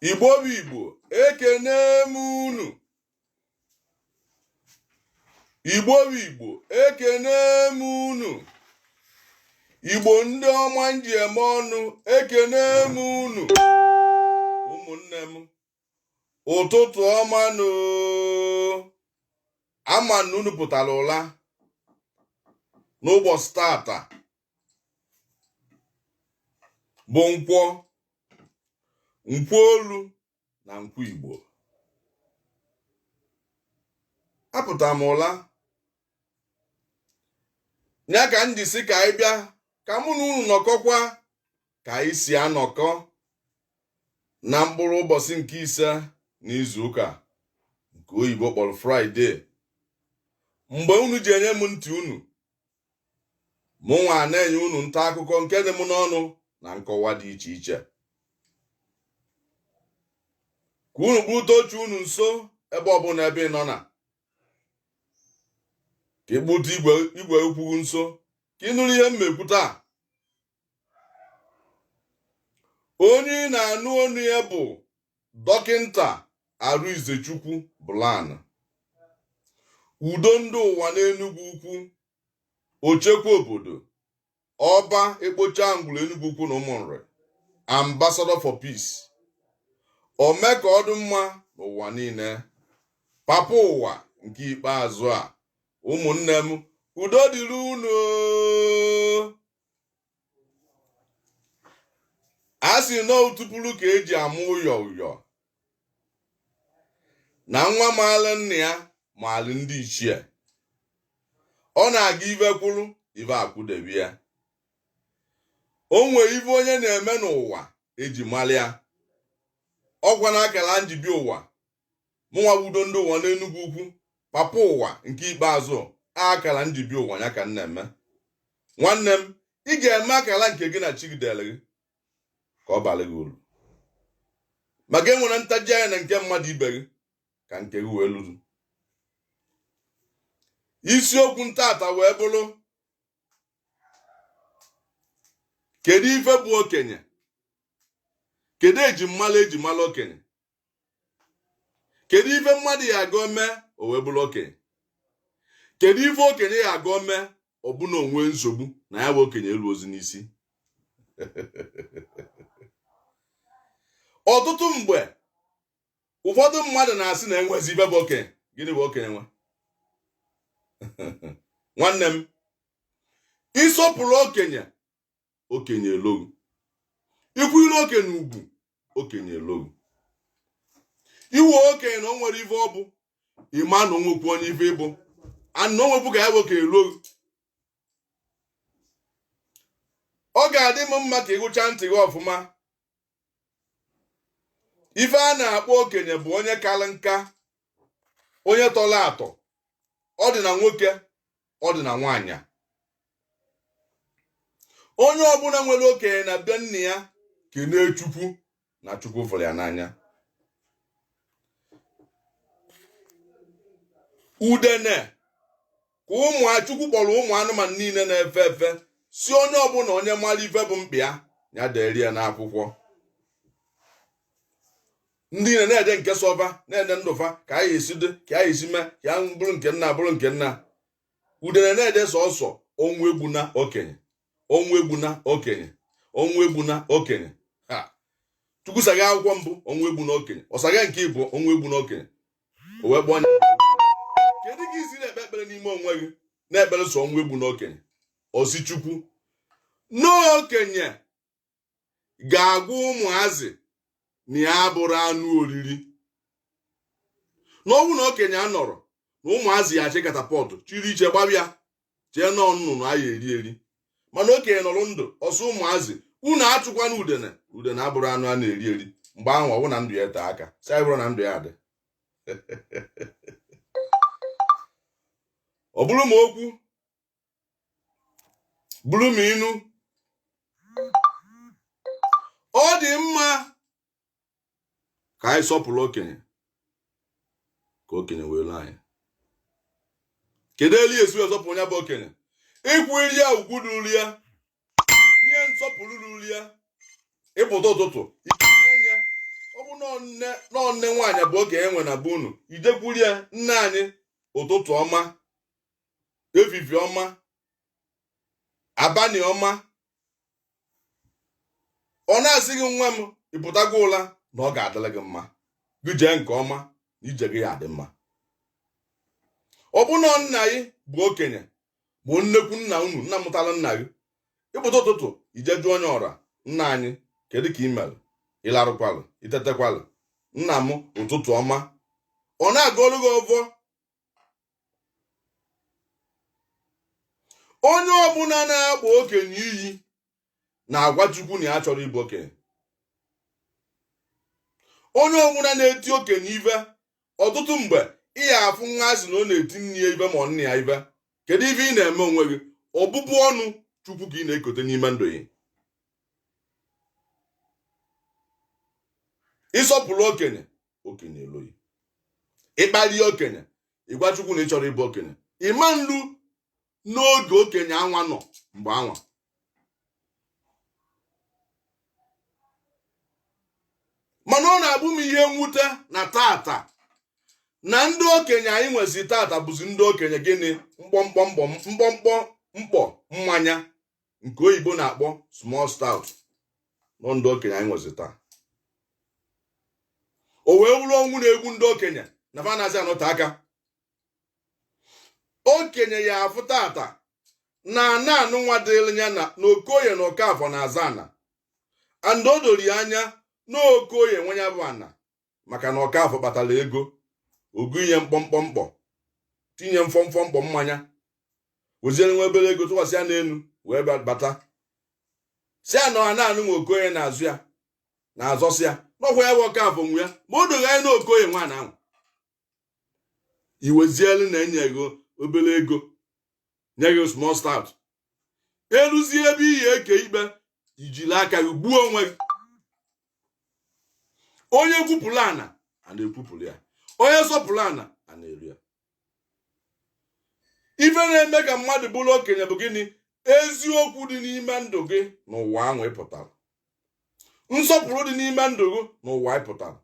igbo bụ igbo ekene m unu igbo bụ igbo ekene m unu igbo ndị ọma m ji eme ọnụ ekene m unu ụmụnne m ụtụtụ ọma nụ ama m na unu pụtara ụla n'ụbọsị taata bụ nkwọ nkwọ olu na nkwọ igbo apụta m ụla ya ka m ji sị ka anyị bịa ka mụ na unu nọkọkwa ka anyị si anọkọ na mkpụrụ ụbọsị nke ise n'izu ụka nke oyibo kpọrọ fraịde mgbe unu ji enye m ntị unu mụ nwa na-enye unu nta akụkọ nke dị m n'ọnụ na nkọwa dị iche iche ka unu kpụta oche unu nso ebe ọbụla ebe ị nọ na ka ị kpụta igwe okwu nso ka ị nụrụ ihe m ma-ekwu taa onye ị na-anụ onu ya bụ dọkịnta Arịnzechukwu Blan udo ndị ụwa n'Enugwu Ukwu ochekwa obodo ọba ekpocha ngwuru Enugwu Ukwu na ụmụnri ambassador for peace ome ka ọ dị mma n'ụwa niile papa ụwa nke ikpeazụ a ụmụnne m udo dịrị unu a sị na otupụrụ ka eji amụ ụyọ ụyọ na nwa maalụ nna ya maalụ ndị ichie ọ na-aga ive kwụrụ ive akwụdebe ya o nwee ive onye na-eme n'ụwa eji mara ya ọkwa na akara m ji bịa ụwa mụnwa bụ udo ndị ụwa n'enugwu ukwu papa ụwa nke ikpeazụ a akara m ji bịa ụwa ya ka m na-eme nwanne m ị ga-eme akara nke gị na chi gị dere gị ka ọ bara gị uru maka enwere ntaji anya na nke mmadụ ibe gị ka nke gị wee lụrụ isiokwu m taata wee bụrụ kedu ife bụ okenye kedu ejimmalụ eji malụ okenye kedu ife mmadụ ya agọ mee o wee bụrụ okenye kedu ife okenye ya agọ mee ọ bụ na o nwee nsogbu na ya bụ okenye elu ozi n'isi ọtụtụ mgbe ụfọdụ mmadụ na-asị na enwezi ive bụ okenye gịnị bụ okenye nwa nwanne m ịsọpụrụ okenye okenye elo ghị ikwu ilu okenye ugwu okenye elo ghị i we okenye na o nwere ife ọ bụ ị ma na o nwekwu onye ife ị bụ ana onwekwu ka ya bụ okenye elo ghị ọ ga-adị m mma ka ịgụcha ntị gị ọfụma ife a na-akpọ okenye bụ onye kalị nka onye tọrọ atọ ọ dị na nwoke ọ dị na nwaanyị onye ọbụla nwere okenye na be nna ya kenee chukwu na chukwu fụrụ ya n'anya udene ka ụmụ chukwu kpọrọ ụmụ anụmanụ niile na-efe efe si onye ọbụla onye mara ife bụ mkpa ya ya deri ya n'akwụkwọ ndị niile na-ede nke sọọ va na-ede ndụ fa ka anyị esi dị ka anyị esi mee ka ya bụrụ nke nna bụrụ nke nna udene na-ede sọsọ ọnwụ egbuna okenye ọnwụ egbuna okenye ọnwụ egbuna okenye ha chukwu saghee akwụkwọ mbụ ọnwụ egbuna okenye ọ saghee nke ịbụọ ọnwụ egbuna okenye o wee kpọọ nya kedu ka i si na-ekpe ekpere n'ime onwe gị na-ekpere sọ ọnwụ egbuna okenye ọ sị chukwu na okenye ga-agwa ụmụazị na ya abụrụ anụ oriri na ọ wụ na okenye anọrọ na ụmụazị ya achị catapult chiri iche gbabe ya chee na ọ nnụnụ a ya-eri eri mana okenye nọrọ ndụ ọ sị ụmụazị unu achụkwana udene udene abụrụ anụ a na-eri eri mgbe ahụ ọ bụ na ndụ ya ete aka si anyị bụrụ na ndụ ya adị ọ bụrụ ma okwu bụrụ ma inu ọ dị mma ka anyị sọpụrụ okenye ka okenye wee lo anyị kedu elu e si wee sọpụrụ ya bụ okenye ịkwụ iri ya ugwu ruru ya nye nsọpụrụ ruru ya ị pụta ụtụtụ anya ọ bụ na ọ nne nwaanyị bụ okenye nwe na be unu i jekwuru ya nne anyị ụtụtụ ọma evivie ọma abalị ọma ọ na-asị gị nwa m ị pụtago ụla na ọ ga-adịrị gị mma gị jee nke ọma na ije gị ya adị mma ọ bụ na nna gị bụ okenye bụ nnekwu nna unu nna mụtara nna gị ị pụta ụtụtụ i je jụọ nya ọra nna anyị kedu ka ị mere ị larụkwalụ i tetekwalụ nna m ụtụtụ ọma ọ na-agọrọ gị ọvọ onye ọbụla na-akpọ okenye iyi na-agwa Chukwu na ya achọrọ ịbụ okenye onye ọbụla na-eti okenye ive ọtụtụ mgbe ị ya afụ nwa asị na ọ na-eti nne ya ive ma ọ nna ya ive kedu ive ị na-eme onwe gị ọbụbụ ọnụ Chukwu ka ị na-ekote n'ime ndụ gị ị sọpụrụ okenye okenye eluo yi ị kpalie okenye ị gwa chukwu na ị chọrọ ịbụ okenye ịma nlu n'oge okenye anwa nọ mgbe anwa mana ọ na-abụ m ihe mwute na tata na ndị okenye anyị nwezi tata bụzi ndị okenye gịnị mkpọmkpọ mkpọ mkpọmkpọ mkpọ mmanya nke oyibo na-akpọ small stout nọ ndị okenye anyị nwezi taa o wee wụrụ ọnwụ na-egbu ndị okenye na fa anazi anọte aka okenye ya afụ tata na ana anụnwa dịrị ya na okoye na okafọ na-azọ ana and o doro ya anya na okoye nwe ya bụ ana maka na okafọ kpatara ego ogu inye mkpọmkpọ mkpọ tinye mkpọmkpọ mkpọ mmanya weziere nwa obere ego tụkwasị ya n'elu wee bata sị ya na ana anụnwa okoye na-azọ ya na-azọ sị ya na ọ kwa ya bụ okafọ nwe ya ma o do gị anya na okoye nwe ana anwa i wezielu na enye gị obere ego nye gị small stout eluzie ebe ị ya eke ikpe i jiri aka gị gbuo onwe gị onye kwupụrụ ana ana ekwupụrụ ya onye sọpụrụ ana ana eluo ya ife na-eme ka mmadụ bụrụ okenye bụ gịnị eziokwu dị n'ime ndụ gị n'ụwa ahụ ị pụtara nsọpụrụ dị n'ime ndụ gị n'ụwa ị pụtara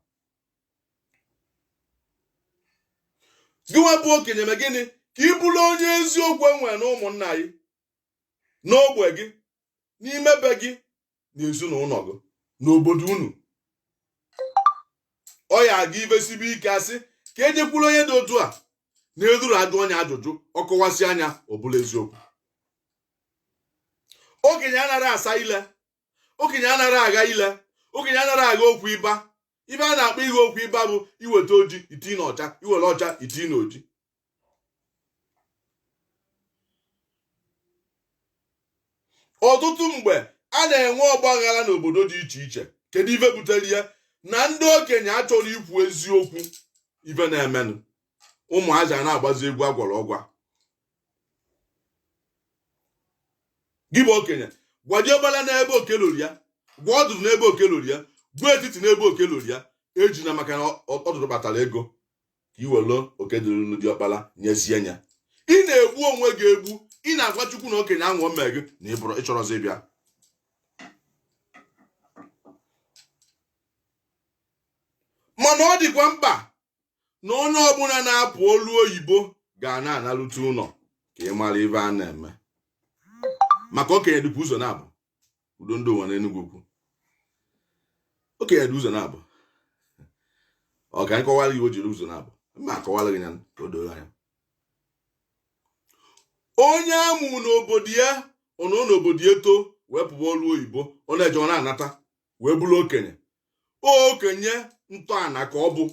gị nwa bụ okenye mee gịnị ka ị bụrụ onye eziokwu enwere na ụmụnna gị n'ogbe gị n'ime be gị na ezinụlọ gị n'obodo unu ọ ya aga ive sibe ike asị ka ejekwuru onye dị otu a na e luru ajụọ nya ajụjụ ọ kọwasịa nya ọ bụrụ eziokwu okenye anaghị asa ile okenye anaghị agha ile okenye anaghị agha okwu ịba ive a na-akpọ ịgha okwu ịba bụ iweta oji iti na ọcha iwere ọcha iti na oji ọtụtụ mgbe a na-enwe ọgba aghara n'obodo dị iche iche kedu ife butere ya na ndị okenye achọrọ ikwu eziokwu ife na-emenụ ụmụazị a na-agbazi egwu agwọrọ agwọ gị bụ okenye gwa diọkpala n'ebe oke luru ya gwa ọdụdụ n'ebe oke luru ya gwa etiti n'ebe oke luru ya ejina maka na ọdụdụ kpatara ego ka i were oke dịrị diọkpala nyezie ya ị na-egbu onwe gị egbu ị na-agwa chukwu na okenye ahụ o mee gị na ị bụrụ ị chọrọzi ịbịa mana ọ dịkwa mkpa na onye ọbụla na-apụ ọlụ oyibo ga na-analute ụlọ ka ị mara ife a na-eme maka okenye dịkwa ụzọ naabọ udo ndị ụwa n'Enugwu ukwu okenye dị ụzọ naabọ ka m kọwara gị o ji dị ụzọ naabọ m ya-akọwara gị ya ka o doro anya onye a mụ n'obodo ya ọ nọ n'obodo ya too wee pụwa ọlụ oyibo ọ na-eje ọ na-anata wee bụrụ okenye okenye ntọana ka ọ bụ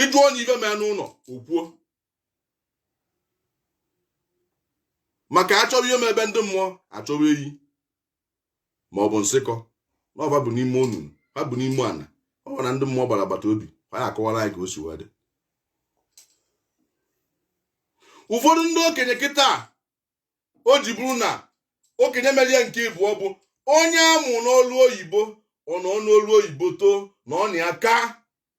ị jụ onye ife mee n'ụlọ o kwuo maka a chọwa ihe mee be ndị mmụọ a chọwa eyi ma ọ bụ nsịkọ na ọ fa bu n'ime onunu ha bu n'ime ana ọ fa na ndị mmụọ gbara agbata obi ha ya-akọwara anyị ka o si wee dị ụfọdụ ndị okenye kịta o ji bụrụ na okenye mere ya nke ịbụọ bụ onye a mụ n'ọlụ oyibo ọ nọ n'ọlụ oyibo too na ọ na ya ka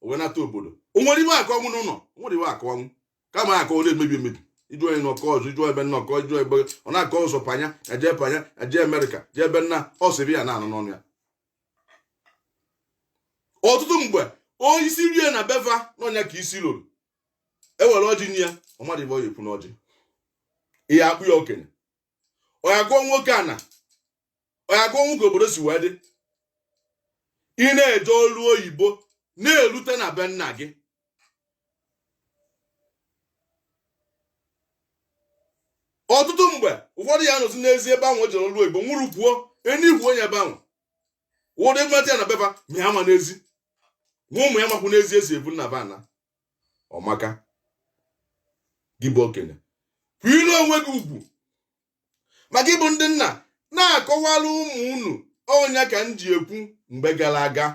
o wee nata obodo o nwere ife ọ ya-akọnwu n'ụlọ o nwere ife ọ ya-akọnwu kama akọ ọ na-emebi emebi ị jụ onye n'ọkọ ọzọ ị jụ ebe nnọkọ ị jụ ebe ọ na-akọ sọ panya e je panya e je amerịka jee ebe nna ọ sịrị ya na-anụ n'ọnụ ya ọtụtụ mgbe onye isi rie na be fa n'ọ nya ka isi luru e were ọjị nye ya ọ madị ife ọ ya-ekwu n'ọjị i ya-akpọ ya okenye ọ ya-agọnwu ka ana ọ ya-agọnwu ka obodo si wee dị i na-eje ọlụ oyibo na-elute na be nna gị ọtụtụ mgbe ụfọdụ ya-anọzi n'ezi ebe ahụ o jere ọlụ oyibo nwụrụkwuo e nikwuo nya ebe ahụ ụfọdụ e weta ya na be fa ma ya amana ezi ma ụmụ ya amakwuna ezi e si ebu nna fa ana ọ maka gị bụ okenye kwanyelu onwe gị ugwu ma gị bụ ndị nna na-akọwara ụmụ unu ọ nya ka m ji ekwu mgbe gara aga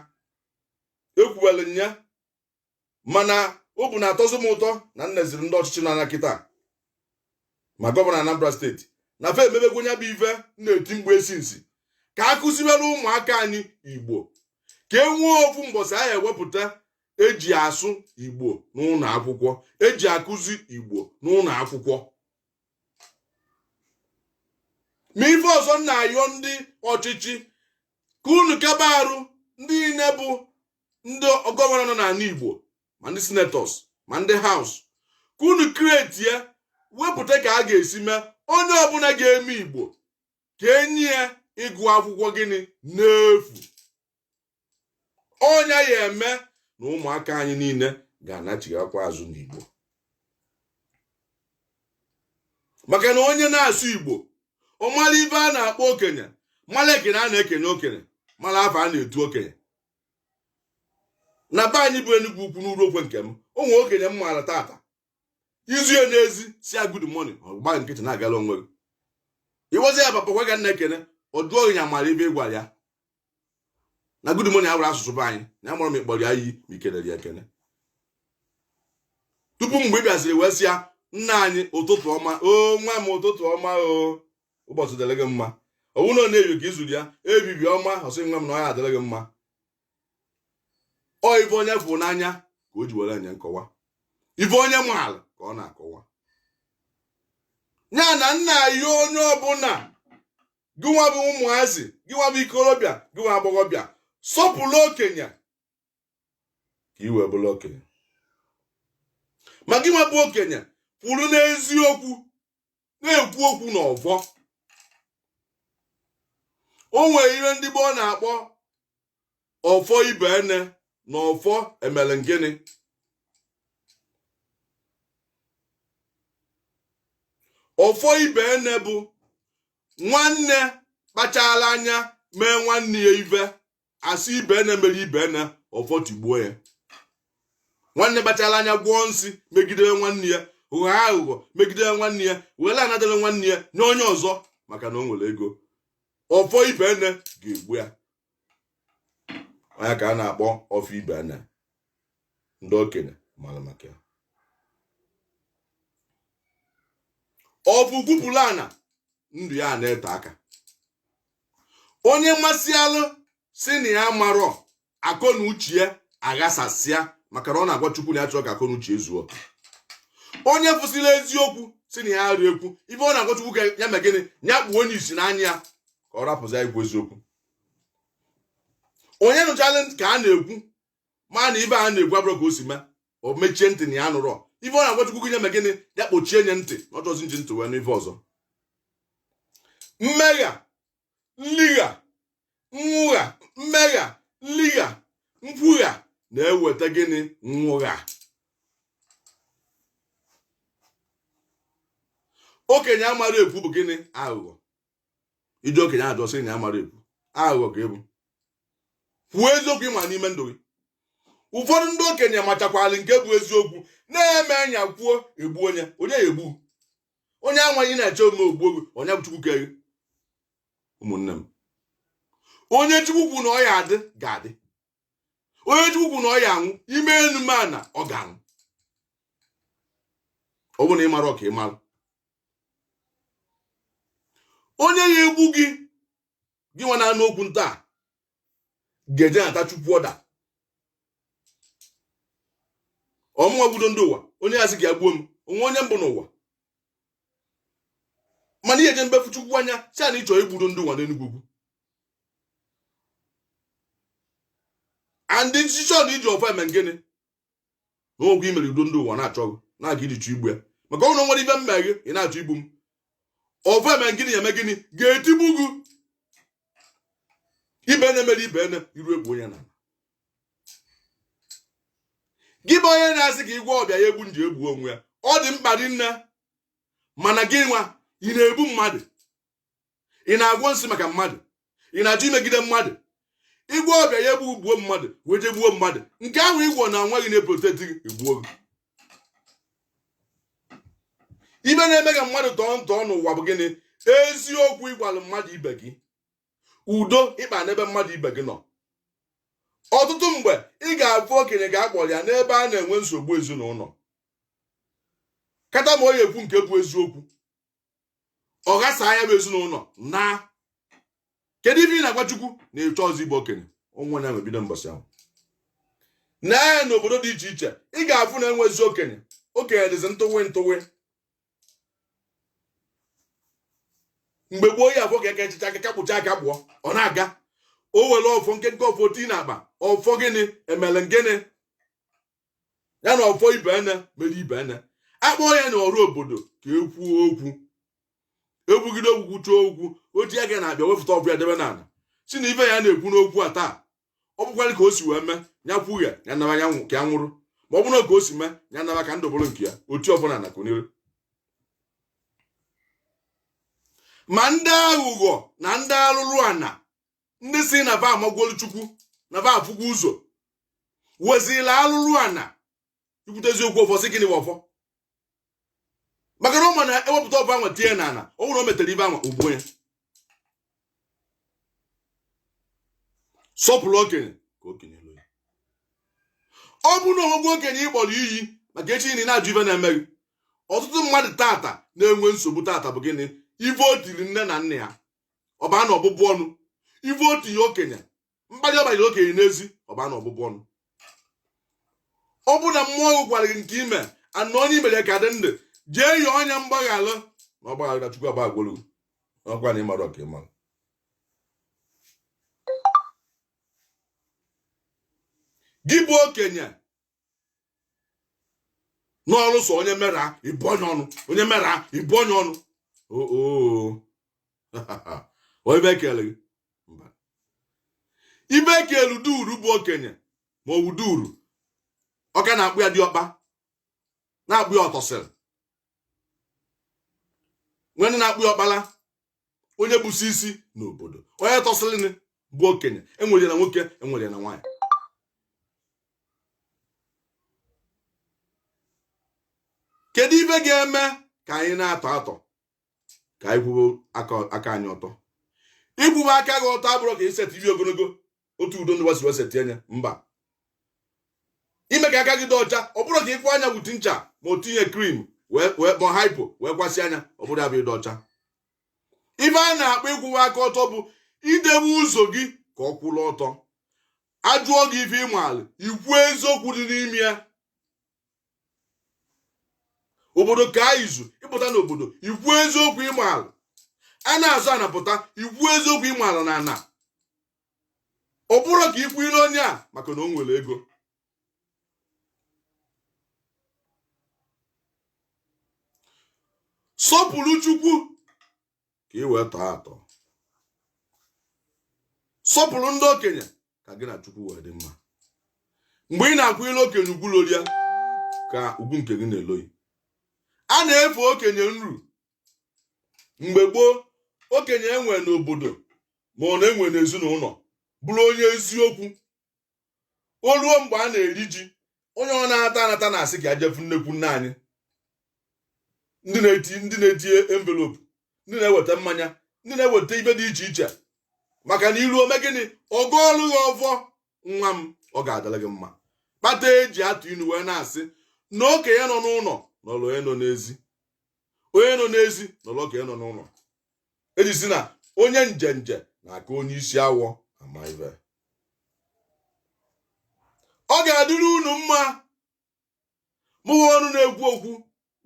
e kwuwere ya mana obu na-atọzi m ụtọ na m neziri ndị ọchịchị anya kịta ma gọvanọ Anambra steeti na fa emebegwo nya bụ ife m na-eti mgbe esi nsi ka a kụziwere ụmụaka anyị Igbo ka e nwee ofu mbọsị a ya-ewepụta e ji asụ Igbo n'ụlọ akwụkwọ e ji akụzi Igbo n'ụlọ akwụkwọ ma ife ọzọ m na-ayọ ndị ọchịchị ka unu kaba arụ ndị niile bụ ndị gọvanọ nọ n'ala igbo ma ndị senetọs ma ndị haus ka unu kretie wepụta ka a ga-esi mee onye ọbụla ga-eme igbo ka e nye ya ịgụ akwụkwọ gịnị n'efu ọ nya ya-eme na ụmụaka anyị niile ga-anachighakwa azụ n'igbo maka na onye na-asụ igbo ọ mara ive a na-akpọ okenye mara ekene a na-ekene okenye mara afa a na-etu okenye na be anyị bụ Enugwu Ukwu n'Uruokwe nke m o nwee okenye m maara tata i zu ya n'ezi sị ya good morning ọ gba nkịtị na-agala onwe ya ị gwazi ya papa kwa gị m na-ekene ọ sị na ya amarọ ive ị gwara ya na good morning awụrọ asụsụ be anyị na amarọ ma ị kpọrọ ya iyi ma i kelere ya ekene tupu mgbe ị bịaziri wee sị ya nna anyị ụtụtụ ọma o nwa m ụtụtụ ọma o ụbọsị dịrị gị mma ọ wụ na ọ n'evivie ka i zuru ya evivie ọma ọ sị nwa m na ọ ya-adịrị gị mma ọ ife onye fụ n'anya ka o ji were enye nkọwa ife onye maala ka ọ na-akọwa ya na nna ya onye ọbụla gịnwa bụ ụmụazị gịnwa bụ ikorobịa gịnwa agbọghọbịa sọpụrụ okenye ka i wee bụrụ okenye ma gịnwa bụ okenye kwụrụ n'eziokwu na-ekwu okwu n'ọfọ o nwere ihe ndị gboo na-akpọ ọfọ ibenne na ọfọ emere ngịnị ọfọ ibenne bụ nwanne kpachara anya mee nwanne ya ive a sị ibenne mere ibenne ọfọ tigbuo ya nwanne kpachara anya gwọọ nsị megidere nwanne ya ghọọ aghụghọ megidere nwanne ya were ana dịrị nwanne ya nye onye ọzọ maka na o nwere ego ọfọ ibenne ga-egbu ya ọ nya ka a na-akpọ ọfọ ibenne ndị okenye mara maka ya ọ fụ kwupụrụ ana ndụ ya na-ete aka onye masịalụ sị na ya amarọ akọ na uche ya aghasasịa maka na ọ na-agwa chukwu na ya achọrọ ka akọ na uche zuo onye fụsịla eziokwu sị na ya rịa ekwu ive ọ na-agwa chukwu ka ya mee gịnị ya kpuo nye isi n'anya ya ka ọ rapụzi ya ikwu eziokwu onye nụchala ka a na-ekwu mana ive a na-ekwu abụrọ ka o si mee o mechie ntị na ya anụrọ ife ọ na-agwa Chukwu ya mee gịnị ya kpochie nye ntị na ọ chọzi iji ntị wee nụ ife ọzọ mmegha nligha nwụgha mmegha nligha nkwugha na-eweta gịnị nwụgha okenye amara ekwu bụ gịnị aghụghọ iji okenye ajọ sị na ya mara ekwu aghụghọ ka ebu kwuo eziokwu ịma n'ime ndụ gị ụfọdụ ndị okenye machakwalị nke bụ eziokwu na-eme anya kwuo egbu onye onye ya-egbu onye anwaghị na-eche ome o gbuo gị onye bụ chukwu kere ụmụnne m onye chukwu kwu na ọ ya-adị ga-adị onye chukwu kwu na ọ ya-anwụ i mee enu mee ana ọ ga-anwụ ọ bụ na ị mara ọka ị mara onye ya-egbu gị gị nwa na-anụ okwu nta a, ga-eje nata chukwu ọda ọ mụnwa bụ udo ndị ụwa onye ya-asị ka ya gbuo m o nwe onye m gbu n'ụwa mana ị ya-ejebe fụ chukwu anya sị a na ịchọ igbu udo ndị ụwa n'enugwu andị nchicha na iji ọfọ eme ngịnị n'okwu i mere udo ndị ụwa na-achọ ị na-aga iji chụ igbu ya maka o nwe o nwere ife m me gị ị na-achọ igbu m ọfọ eme ngịnị ya eme gịnị ga-etigbu gị ibe na-emere ibe ene iru egbu onye na gị bụ onye na-asị ka ị gwọọ ọbịa ya egbu m ji egbu onwe ya ọ dị mkpa rinne mana gị nwa ị na-egbu mmadụ ị na-agwọ nsị maka mmadụ ị na-achọ imegide mmadụ ị gwọọ ọbịa ya egbu gbuo mmadụ wee jee gbuo mmadụ nke ahụ ị gwọ na nwa gị na-eproteti gị egbuo gị ife na-eme ka mmadụ tọọ ntọọ n'ụwa bụ gịnị eziokwu ị gwalụ mmadụ ibe gị udo ị kpa n'ebe mmadụ ibe gị nọ ọtụtụ mgbe ị ga-afụ okenye ga-akpọrọ ya n'ebe a na-enwe nsogbu ezinụlọ kata ma ọ ya-ekwu nke bụ eziokwu ọ ghasaa ya bụ ezinụlọ na kedu ife ị na-agwa Chukwu na ịchọ ọzọ ịbụ okenye onwe ya mebido mbọsị ahụ na n'obodo dị iche iche ị ga-afụ na enwezị okenye okenye dịzi ntụwe ntụwe mgbe gboo ị ya-afụ ka eke echicha aka kpụcha aka gbụọ ọ na-aga o were ọfọ nkenke ọfọ tii na akpa ọfọ gịnị emere gịnị ya na ọfọ ibe ene mere ibe ene akpọọ ya na ọrụ obodo ka ekwuo okwu ekwugide okwu kwuchaa okwu o tie aka n'akpa ya wefụta ọfọ ya debe n'ana sị na ife ya na-ekwu n'okwu a taa ọ bụkwarọ ka o si wee mee ya kwughe ya naba ya ka ya nwụrụ ma ọ bụrụ ka o si mee ya naba ka ndụ bụrụ nke ya o tie ọfọ n'ana kunie ma ndị aghụghọ na ndị alụrụ ana ndị sị na va amagwolu chukwu na va afụgwo ụzọ wezila alụrụ ana ikwute eziokwu ọfọ si gịnị bụ ọfọ maka na ọ ma na e wepụta ọfọ anwa tie n'ana ọ bụ na o metere ife anwa o gbuo ya sọpụrụ okenye ka okenye luo gị ọ bụ na o nwegwo okenye ị kpọrọ iyi maka echi ị na-ajụ ife na-eme gị ọtụtụ mmadụ tata na-enwe nsogbu tata bụ gịnị ife o tiri nne na nna ya ọ baa na ọbụbụ ọnụ ife o tinye okenye mkpalị ọ kparịrị okenye n'ezi ọ baa na ọbụbụ ọnụ ọ bụ na mmụọ gị gwara gị nke i me na onye i mere ka dị ndụ jee yọọ nya mgbaghara na ọ gbaghara chukwu agbaghagwolu ọgwa na ịmara ọka ịmara gị bụ okenye nọlụ sọ onye mere ị bụọ nya ọnụ onye mere ị bụọ nya ọnụ oo ọ ife e kelu gị mba ife e kelu duru bụ okenye ma ọ bụ duru ọka na-akpọ ya diọkpa na-akpọ ya ọtọsịrị nwere na-akpọ ya ọkpala onye bụsi isi n'obodo onye tọsịrịnị bụ okenye e nwere ya na nwoke e nwere ya na nwaanyị kedu ife ga-eme ka anyị na-atọ atọ ka anyị kwụwa aka anyị ọtọ ịkwụwa aka gị ọtọ abụrọ ka i setibe ogologo otu udo ndị wa siri eseti nya mba ime ka aka gị dị ọcha ọ bụrọ ka ị kwọọ nya wute ncha ma o tinye cream wee wee ma hypo wee kwọsịa nya ọ bụrọ ya bụ ịdị ọcha ife a na-akpọ ịkwụwa aka ọtọ bụ idewe ụzọ gị ka ọ kwụrụ ọtọ a jụọ gị ife ị maalụ i kwuo eziokwu dị n'ime ya obodo kaa izu ị pụta n'obodo i kwuo eziokwu ị maalụ a na-azọ ana pụta i kwuo eziokwu ị maalụ na ana ọ bụrọ ka ị kwụnyele onye a maka na o nwere ego sọpụrụ chukwu ka ị wee tọọ atọ sọpụrụ ndị okenye ka gị na chukwu wee dị mma mgbe ị na-akwanyele okenye ugwu luru ya ka ugwu nke gị na-elu gị a na-efe okenye nru mgbe gboo okenye e nwe n'obodo ma ọ na-enwe n'ezinụlọ bụrụ onye eziokwu o ruo mgbe a na-eri ji onye ọ na-anata anata na-asị ka ya je fụ nnekwu nna anyị ndị na-eti ndị na-eti envelope ndị na-eweta mmanya ndị na-eweta ife dị iche iche maka na i ruo o mee gịnị ọ gọọlụ gị ọfọ nwa m ọ ga-adịrị gị mma kpata e ji atụ inu wee na-asị na okenye nọ n'ụlọ nọọrọ onye nọ n'ezi onye nọ n'ezi nọọrọ okenye nọ n'ụlọ e ji sị na onye njenje na-aka onye isi awọ ama ife ọ ga-adịrị unu mma mụwa ọnụ na-ekwu okwu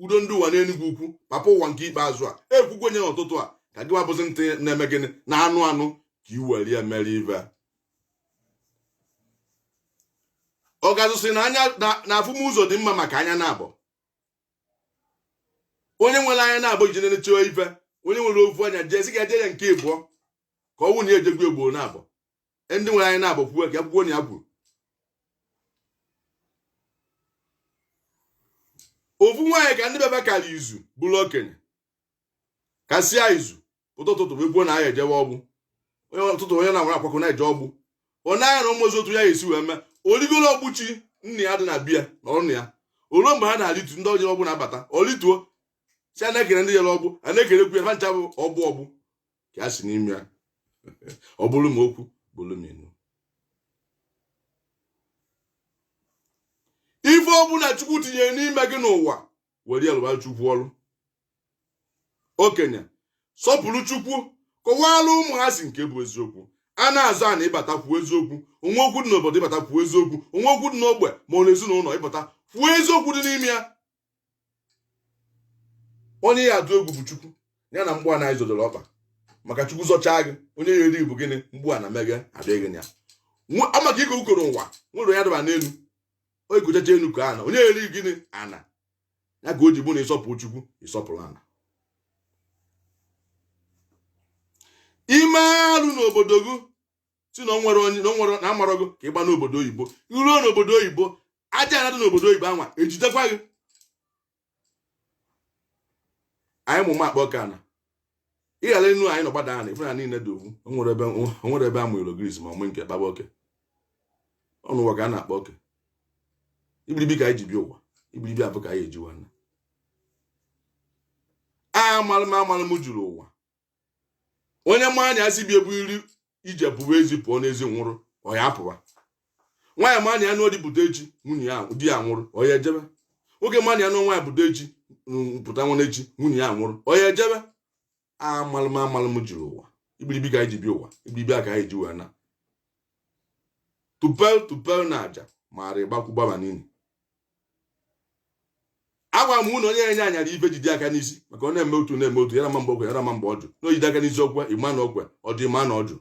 udo ndị ụwa n'enugwu ukwu papa ụwa nke ikpeazụ a ekwukwunye n'ụtụtụ a ka gịwa bụzi ntị na-eme gịnị na-anụ anụ ka i were ya mere ife ọgazụ sị na anya na afụmụzọ dị mma maka anya naabọ onye nwere anya naabọ iji na-eche ife onye nwere ofu anya jee sị ga-eje ya nke ịbụọ ka ọ wụ na ejekwu ugboro naabọ e, ndị nwere anya naabọ kwuo ka akwụkwọ na ya kwuru ofu nwaanyị ka ndị bebe kara izu bụrụ okenye kasịa izu pụta ụtụtụ wee kwuo na anyị ejewe ọgbụ onye ụtụtụ onye na-agwara akwakọ na-eje ọgbụ onye anya na ụmụzi otu ya esi wee mee oligolo ọgbụchi nna ya dị na be ya na ọnụ ya o luo mgbe ha na-alitu ndị ọjọọ ọgbụ na-abata olituo si a na-ekere ndị jere ọgbụ a na-ekerekwu ya ha ncha bụ ọgbụ ọgbụ ka ya si n'ime ya ọ bụrụ m okwu bụrụ m enu ife ọbụla chukwu tinyere n'ime gị n'ụwa were ya lụbara chukwu ọrụ okenye sọpụrụ chukwu kọwara ụmụazị nke bụ eziokwu a na-azọ ana ị bata kwuo eziokwu o nwee okwu dị n'obodo ị bata kwuo eziokwu o nwee okwu dị n'ogbe ma ọ n'ezinụlọ ị bata kwuo eziokwu dị n'ime ya onye ya atụ egwu bụ chukwu ya na mgbu ana ị zọdoro ọkpa maka chukwu zọchaa gị onye ya eri bụ gịnị mgbu ana meghe adịghị ya amaka ike ukoro ụwa nwere onye daba n'elu o rigochacha enu ka ana onye eri gịnị ana ya ka o ji bụ na ị sọpụrụ chukwu ị sọpụrụ ana ị mee alụ n'obodo gị sị na o nwere onye na o nwere na amarọ gị ka ị gbaa n'obodo oyibo i ruo n'obodo oyibo aja ana dị n'obodo oyibo anwa ejidekwa gị anyị mụ makpa ọka na ịghara enu anyị nọ gbada ana ife na niile dị ofu o nwere ebe a mụrụ gris ma ọmụ nke kpaba oke ọ n'ụwa ka a na-akpa oke ibilibi ka anyị ji bịa ụwa ibilibi abụ ka anyị eji wee na amalụ m amalụ m juru ụwa onye ma na ya si be ebu iri ije pụwa ezi pụọ n'ezi nwụrụ ọ ya apụwa nwaanyị ma na ya nụọ di pụta echi nwunye ya di ya nwụrụ ọ ya ejebe nwoke ma na ya nụọ nwaanyị pụta echi pụta nwa echi nwunye ya nwụrụ ọ ya ejebe amalụm amalụm juru ụwa ibilibi ka anyị ji bịa ụwa ibilibi a ka anyị ji wee na tupel tupel na aja ma arị gbakwu gbaba n'ili agwara m na onye enye anyara ife jide aka n'isi maka ọ na-eme otu na-eme otu yara ma mgbe o kwe yara ma mgbe ọ jụ na o jide aka n'isi o kwe ị ma na o kwe ọ jụ ị ma na ọ jụ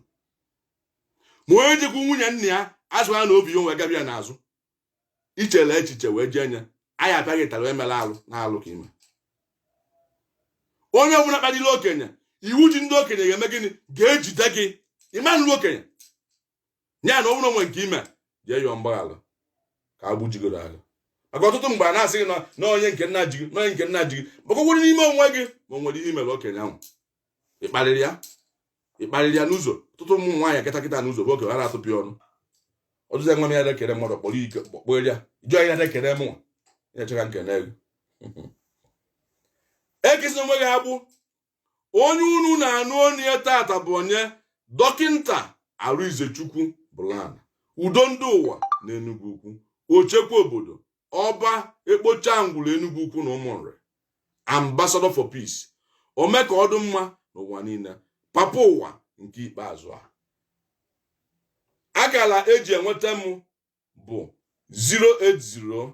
ma onye jekwu nwunye nna ya azụ ha na obi ya onwe gabi ya n'azụ ichele echiche wee jee nye anyị ataghị tara emela alụ na alụ ka i me onye ọbụla kparịrị okenye iwu ji ndị okenye ga-eme gịnị ga-ejide gị ịmanụ okenye ya na ọ bụrụ o nwee nke i me jee yọọ mgbaghara ka agbụ jigoro agha maka ọtụtụ mgbe a na-asị gị na onye nke nna ji gị na onye nke nna ji gị maka ọgwụrụ n'ime onwe gị ma o nwere ihe i mere okenye ahụ ị kparịrị ya ị kparịrị ya n'ụzọ ọtụtụ ụmụ nwaanyị kịta kịta n'ụzọ bụ okenye ha na-atụpị ọnụ ọtụtụ nwa m ya na-ekere mmadụ kpọrọ ike kpọkpọrọ ya jụọ ya na-ekere m na-eche ka nkene gị ekesi onwe gị agbụ onye unu na-anụ onu ya tata bụ onye dọkịnta Arịnzechukwu Blana udo ndị ụwa na Enugwu Ukwu ochekwa obodo ọba ekpocha ngwụrụ Enugwu Ukwu na Ụmụnri ambassador for peace ome ka ọ dụ mma n'ụwa niile papa ụwa nke ikpeazụ a akara eji enweta m bụ 080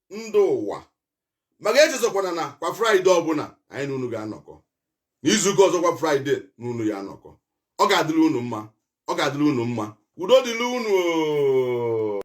ndị ụwa maka echezọkwana na kwa fraịde ọbụla anyị na unu ga-anọkọ n'izuụka ọzọ kwa fraịde na unu ya-anọkọ ọ ga-adịrị unu mma ọ ga-adịrị unu mma udo dịrị unu